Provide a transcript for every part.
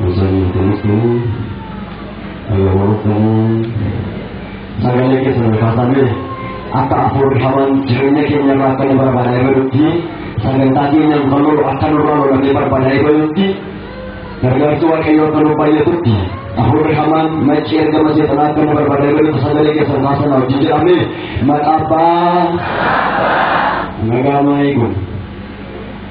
Musanni kunis ayyaanonni sagalee keessan kaasame akka afuurfaman jireenya keenya irraa akka nu barbaada eegalutti sagantaa keenya dhufannoo akka nurraa lolannee barbaada eegalutti gargaarsi waaqayyoo akka nu baay'atutti afuurri hamaan maccii ergama seexanaa akka nu barbaada eegalutti sagalee keessan kaasana wajjin jedhame maqaa abbaa nagaa maayii kun.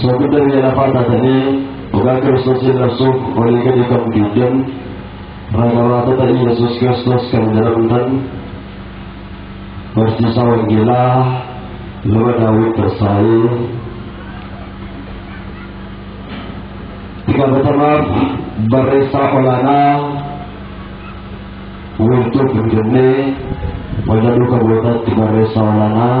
Soogidda biyya lafaa taatanii dhugaa Kiristoosiin labsuuf walii gadi kan fiigdan ragabaatota Iyyasuus Kiristoos kan jedhamtan barsiisaa wangeelaa luba daawwit Tassaayee gabatamaaf barreessaa olaanaa wiirtuu Finfinnee waldaa duuka bu'ootaatti barreessaa olaanaa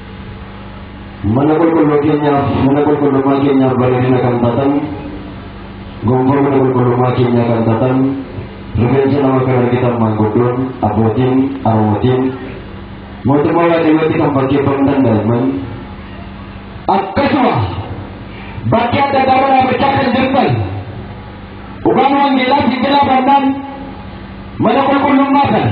Mana qulqulluu keenyaaf mana qulqullummaa keenyaaf bareedina kan taatan gonfoo mana qulqullummaa keenyaa kan taatan rifeensa nama kan argitan maanguddoon abbootiin arootiin mootummaa waaqayyootti kan fakkeeffamu danda'aman akkasuma bakki adda addaa waraabachaa kan jirtan dhugaan wangeelaa sinjilaa bannaan mana qulqullummaa kana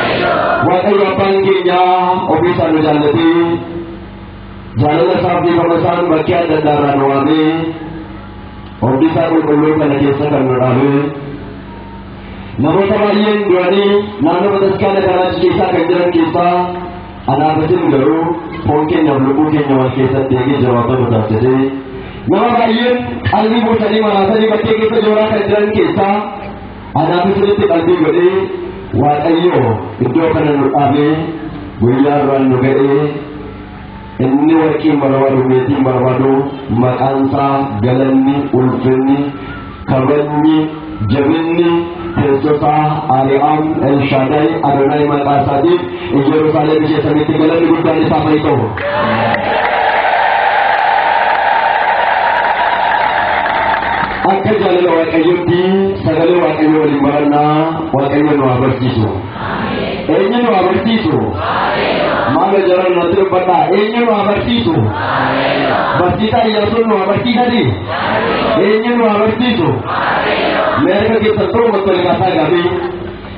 Waaqayyo abbaan keenya ofii isaa nu jaallatee jaalala isaaf dhiifama isaan bakkee adda addaa irraa nu waamee hojii isaa qulqulluu kana keessa kan nu dhaabee namoota baay'een du'anii naannoo bataskaana kanaa keessaa kan jiran keessaa anaafatin garuu foon keenyaaf lubbuu keenya wal keessatti eegee jawaabaa nu taasisee nama baay'een qalbii buusanii maraasanii bakkee keessa jooraa kan jiran keessaa Anaaf isinitti qalbii godhee Waaqayyo iddoo kana nu dhaabee guyyaa biraan nu ga'ee inni warqiin barbaadu meetiin barbaadu maqaan isaa galanni ulfinni kabajni jabinni teessosaa ari'aan elshaadaay adonaay maqaa isaatiif Hojii Yerusaalem mijeessanitti galanni guddaan isaaf haa ta'u. Akka jaalala Waaqayyootti sagalee Waaqayyoo waliin barannaa Waaqayyo nu haa barsiisu. Eenyu nu haa barsiisu? Maal jara natti dubbadha? Eenyu nu haa barsiisu? Barsiisaa Iyyaasuun nu haa barsiisati? Eenyu nu haa barsiisu? Mee harka keessattuu gottolii kaasaa gaafii.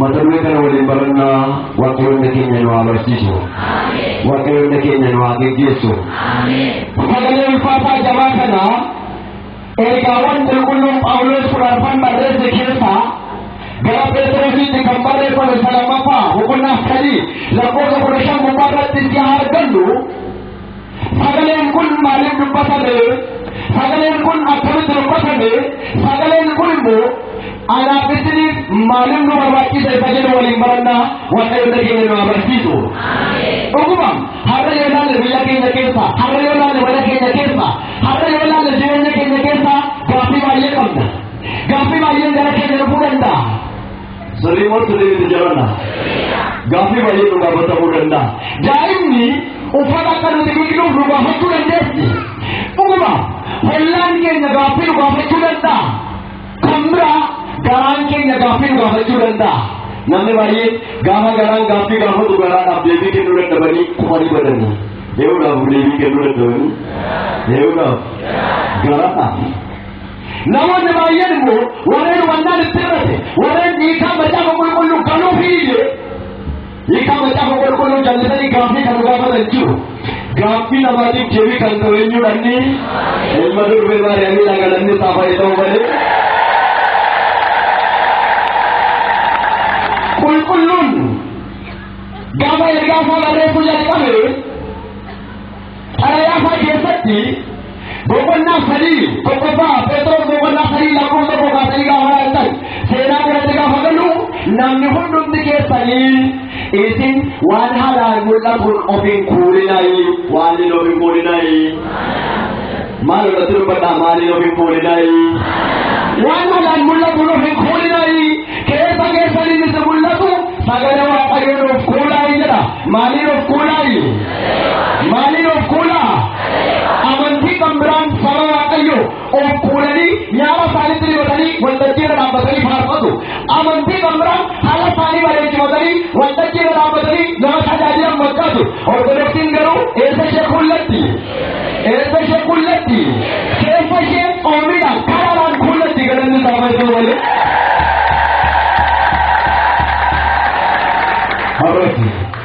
Mata duree kana waliin barannaa waaqayyoonni keenya nu haa barsiisu. Waaqayyoonni keenya nu haa geggeessu. Sagalee ulfaataa jabaa kana ergaawwan qulqulluun Phaawulos kudha arfan barreesse keessaa gara Pheexirositti kan barreeffame isa lammaffaa boqonnaa sadii lakkoofsa kudha shan gubbaa irratti si haa argannu Sagaleen kun maaliif dubbatame? Sagaleen kun akkamitti dubbatame? Sagaleen kun immoo anaaf isiniif maaliif nu barbaachisa isa jedhu waliin barannaa waaqayyo biyya keenya nu agarsiisu. Dhuguma har'a yoo ilaalle biyya keenya keessa, har'a yoo ilaalle mana keenya keessa, har'a yoo ilaalle jireenya keenya keessa gaaffii baay'ee qabna. Gaaffii baay'een gara keenya dhufuu danda'a. Sirrii moo sirrii miti jedhanna? Gaaffii baay'ee nu gaafatamuu danda'a. Daa'imni uffata akka nuti dhiqnuuf nu gaafachuu dandeessi. Dhuguma hollaan keenya gaaffii nu gaafachuu danda'a. Kan biraa garaan keenya gaaffii nu gaafachuu danda'a. Namni baay'een gaafa garaan gaaffii gaafatu garaadhaaf deebii kennuu dadhabanii kufanii badanii. Yeroodhaaf deebii kennuu dadhabanii. Yeroodhaaf garaadhaaf. Namoonni baay'een immoo warreen hubannaan itti hir'ate, warreen hiikaa macaafa qulqulluu galuuf hin iyye, hiikaa macaafa qulqulluu jallisanii gaaffii kan gaafatan jiru. Gaaffii namaatiif deebii kan ta'u eenyudha inni? Ilma durbee Maariyaamiidha galanni isaa fayyee ta'uu malee. Qulqulluun gaafa ergaa isaa barreessuu jalqabe Xalayaa isaa keessatti boqonnaa sadii tokkoffaa Pheexroos boqonnaa sadii lakkoofsa tokko kaasanii gaafa laaltan seenaa kanatti gaafa galu namni hundumti keessanii isin waan haalaan mul'atuun of hin kuulinaayi waan hin of hin kuulinaayi maal irratti dubbadhaa maal hin of hin kuulinaayi waan haalaan mul'atuun of hin kuulinaayi keessa keessanii isin mul'atu sagalee waaqayyoon of kuulaayi jedha maaliin of kuulaayi Maaliin of kuulaa? Amantii kan biraan saba Waaqayyoo of kuulanii nyaara isaaniitti dibatanii waltajjii irra dhaabbatanii faarfatu. Amantii kan biraan haala isaanii bareechifatanii waltajjii irra dhaabbatanii nama tajaajilan fakkaatu. Ortodoksiin garuu eessa ishee kuullatti? Eessa ishee kuullatti? Keessa ishee oomiidhaan karaadhaan kuullatti galanni isaa fayyadu malee. Har'ooti.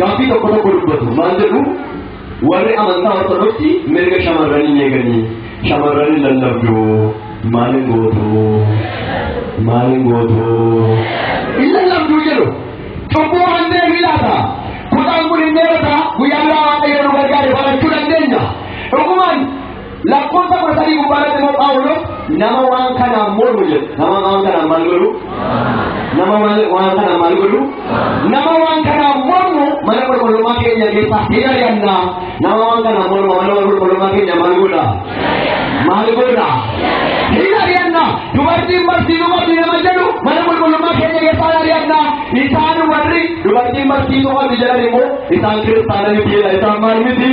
Gaaffii tokko tokko dubbatu maal jedhu warri amantaa ortodoksii mirga shamarranii hin eeganii shamarran hin lallabdu maal hin gootu maal hin gootu hin lallabdu jedhu cubbuu kan deebii laata kutaan kun hin dheerata guyyaa biraa waaqayyo nu gargaare barachuu dandeenya dhugumaan Lakkoofsa kudha sadii gubbaa irratti immoo Phaawulos nama waan kanaan mormu jedha. Nama waan kanaan maal godhu? Nama maal waan kanaan maal godhu? Nama waan kanaan mormu mana qulqullummaa keenya keessaa hin ari'anna. Nama waan kanaan mormu mana qulqullummaa keenya maal godha? Maal godha? Hin ari'anna. Dubartiin barsiisuu qabdi nama jedhu mana qulqullummaa keenya keessaa hin ari'anna. Isaan warri dubartiin barsiisuu qabdi jedhan immoo isaan kiristaana miti jedha. Isaan maal miti?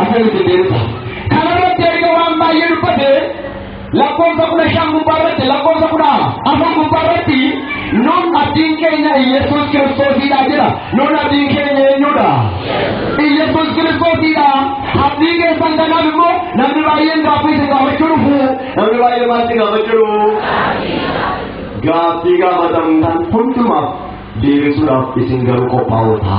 Amma nuti deemta. Kana irratti erga waan baay'ee dubbate lakkoofsa kudha shan gubbaa irratti lakkoofsa kudha afur gubbaa irratti nun abdiin keenya Iyyasuus Kiristoosidha jedha. Nun abdiin keenya eenyudha? Iyyasuus Kiristoosidha. Abdii keessan kanaaf immoo namni baay'een gaaffii isin gaafachuu dhufu. Namni baay'ee maal isin gaafachuu dhufu? Gaaffii gaafatamtan hundumaaf deebisuudhaaf isin garuu qophaa'oota.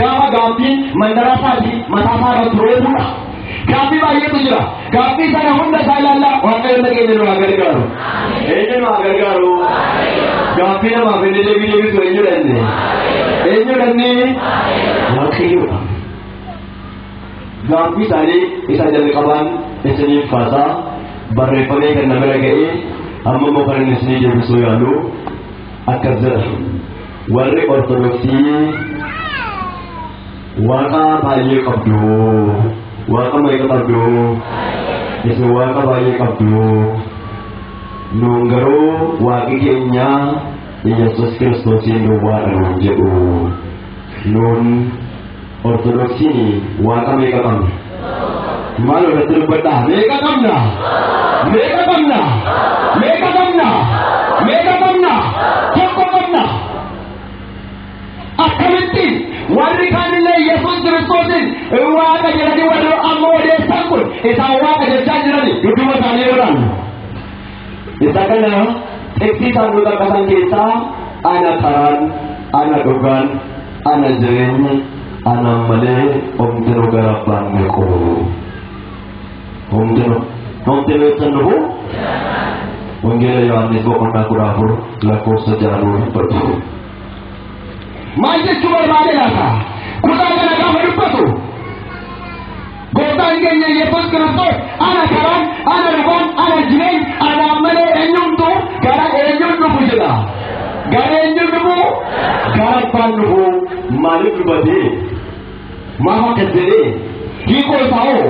Gaafa gaabbiin mandara isaatii mataa isaa irratti roobudha. Gaabbii baay'eetu jira. Gaabbii sana hunda isaa ilaalla waaqayyoon dhageenya nu haa gargaaru. Eenyu nu haa gargaaru? Gaabbii namaaf inni deebii deebisu eenyu dhanne? Eenyu dhanne? Waaqayyoodha. Gaabbii isaanii isa jalqabaan isiniif kaasaa barreeffamee kan na bira ga'ee amma immoo kan inni isinii deebisuu yaalu akkas jedha warri ortodoksii waaqa baay'ee qabdu waaqa meeqa qabdu isin waaqa baay'ee qabdu nuun garuu waaqi keenya yesus kiristoosiin duwwaadha nuun jedhu nuun Ortodoksiin waaqa meeqa qabna? Maal irratti dubbadhaa? Meeqa qabna? Meeqa qabna? Meeqa qabna? Meeqa qabna? Tokko qabna. Akkamitti warri kaanillee Yesuus Kiristoosiin waaqa jedhanii warri amma odeessan kun isaan waaqa jechaa jirani dudduuba isaanii godhan. Isa kana xiqqii isaan nu qaqqasan keessaa ana karaan ana dhugaan Ana jireenyi anaan malee homtinu gara abbaan meequ homtinu homtinu ibsan dhufu wangeela yohaannis boqonnaa kudha afur lakkoofsa jaanuu dubbatu maal jechuu barbaade laata kutaa kana gaafa dubbatu Gooftaan keenya Yesuus Kiristoos ana karaan, ana dhugaan, ana jireen, anaan malee eenyumtu gara eenyuun dhufu jedha. Gara eenyuun dhufu? Gara abbaan dhufu maaliif dubatee? Maaf akkas jedhee? Hiikoo isaa hoo?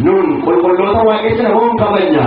Nuun qulqulloota waaqessina hoo hin kabajna?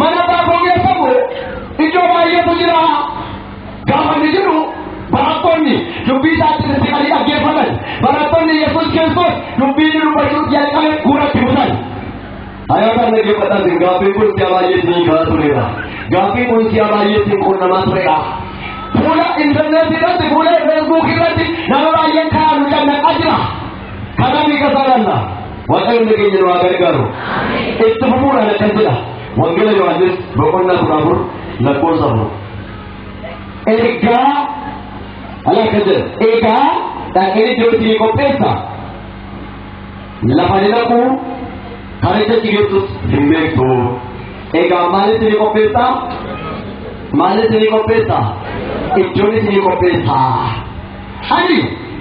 Mana abbaa koo keessa immoo iddoo baay'eetu jira. Gaafa inni jiru barattoonni dubbii isaatti sissiqanii dhaggeeffatan. Barattoonni Yesuus Kiristoos dubbii inni dubbachuu jalqabe guuratti butan. Ayyaana dhaggeeffatan gaaffiin kun si'a baay'ee isin kaa'aa tureera. Gaaffiin kun si'a baay'ee isin qunnamaa tureera. Fuula intarneetii irratti fuula feesbuukii irratti nama baay'een kaa'aa nu cannaqaa jira. Kanaaf hiika isaa laalla. Waaqayyoon nageenya nu haa gargaaru. Itti fufuudhaan akkas jedha. Wangeela Yohaannis boqonnaa kudha afur lakkoofsa afur. Ergaa ala akkas jedha. Egaa dhaqeen iddoo itti qopheessa. Lafa ni dhaqu kan itti achi geessus hin beektu. Egaa maalitti ni qopheessa? Maalitti ni qopheessa? Iddoon itti ni qopheessa. Ani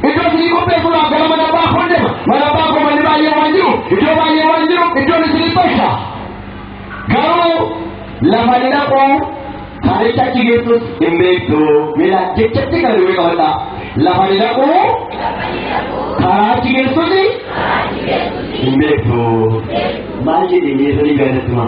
iddoo isinii qopheessuudhaaf gara mana abbaa koon deema. Mana abbaa koo manni baay'ee waan jiru, iddoo baay'ee waan jiru, iddoon isinii tosha. Garuu lafa ni dhaqu, karicha achi geessus hin beektu. Mila jechatti kana duwwee qabadha. Lafa ni dhaqu, karaa achi geessus hin beektu. Maal jedhee miira ni gaafatu?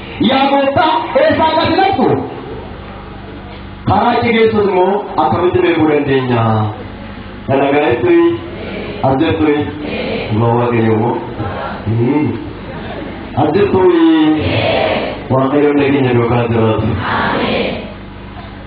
Yaa gooftaa eessaa akka ati dhaqxu? Karaa itti geessus immoo akkamitti beekuu dandeenya? Kana gahetti as jirtu dhugaa waaqayyo immoo. As jirtu waaqayyoon nageenya duukaa jiraatu.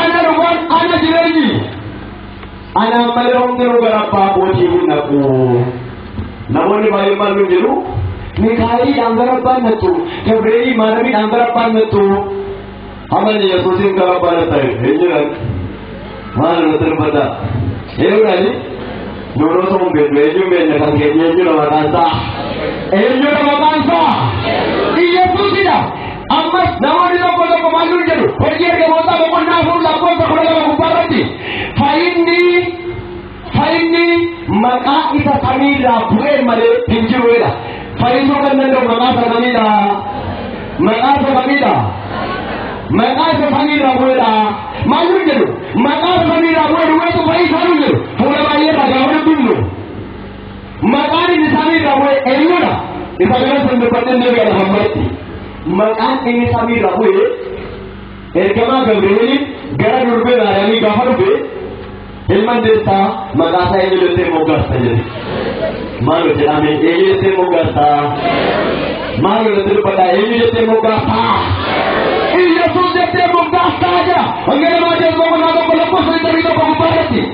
Ana dhugaan ana jireenyi. Anaan malee humni nu gara abbaa kootii hin naqu. Namoonni baay'een maal nu jedhu? Mikaa'eliidhaan gara abbaan nattu. Gabreelii maaramiidhaan gara abbaan nattu. Amanni Yesuusiin gara abbaa natta hin jiran. Maal nu sirbata? Eeyyuudhaani? Nuunoo ta'uun beeknu eenyuun beekna kan keenya eenyudha maqaan isaa? Eenyudha maqaan isaa? Yesuusidha. Ammas namoonni tokko tokko maal nuun jedhu hojii ergamootaa boqonnaa afur lakkoofsa kudha lama gubbaa irratti fayyinni fayyinni maqaa isa samiirraa bu'ee malee hin jiru jedha. Fayyisuu kan danda'u maqaa isa samiidha. Maqaa isa samiidha. Maqaa isa samiirraa bu'eedha. Maal nuun jedhu maqaa isa samiirraa bu'ee duwwaa isa fayyisuu nuun jedhu fuula baay'ee irraa gaafa dubbifnu. Maqaan inni samii irraa bu'e eenyudha? Isa kanas hin dubbadhin ni gala hammatti. Maqaan inni samii irraa bu'e ergamaa Gabri'eeliin gara durbee Maariyaamii gaafa dhufe ilman deessaa maqaa isaa eenyu jettee moggaasta jedhe. Maal jedhame eenyu jettee moggaasta? Maal jettee dubbadha eenyu jettee moggaasta? Iyyasuus jettee moggaasta jira. Hanga namaa jechuun boqonnaa tokko lakkoofsa 21 gubbaa irratti.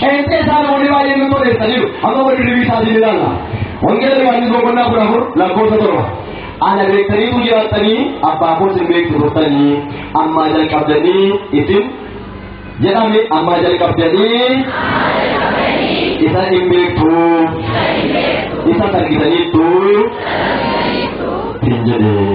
Qeenxee isaa namoonni baay'een nu toleessaniiru. Amma wal dirribii isaatiin ilaalla. Wangeela Yohaannis boqonnaa kudha afur lakkoofsa torba. Ana beektaniitu jiraattanii abbaa koos hin beektu turtanii ammaa jalqabdanii isin jedhame ammaa jalqabdanii isa hin beektu isa argitaniittu hin jedhee.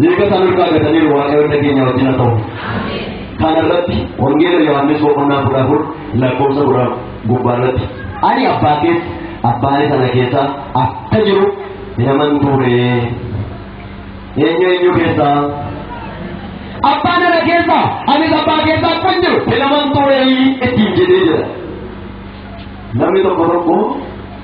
Mirga isaan irraa gataniiru waaqayyoon nageenya wajjin haa ta'u. Kana irratti wangeela Yohaannis boqonnaa kudha afur lakkoofsa kudha gubbaa irratti ani abbaa keessa abbaa sana keessa akka jiru naman ture. Eenyu eenyu keessa? Abbaa nana keessa anis abbaa keessa akka jiru naman ture ittiin jedhee jira. Namni tokko tokko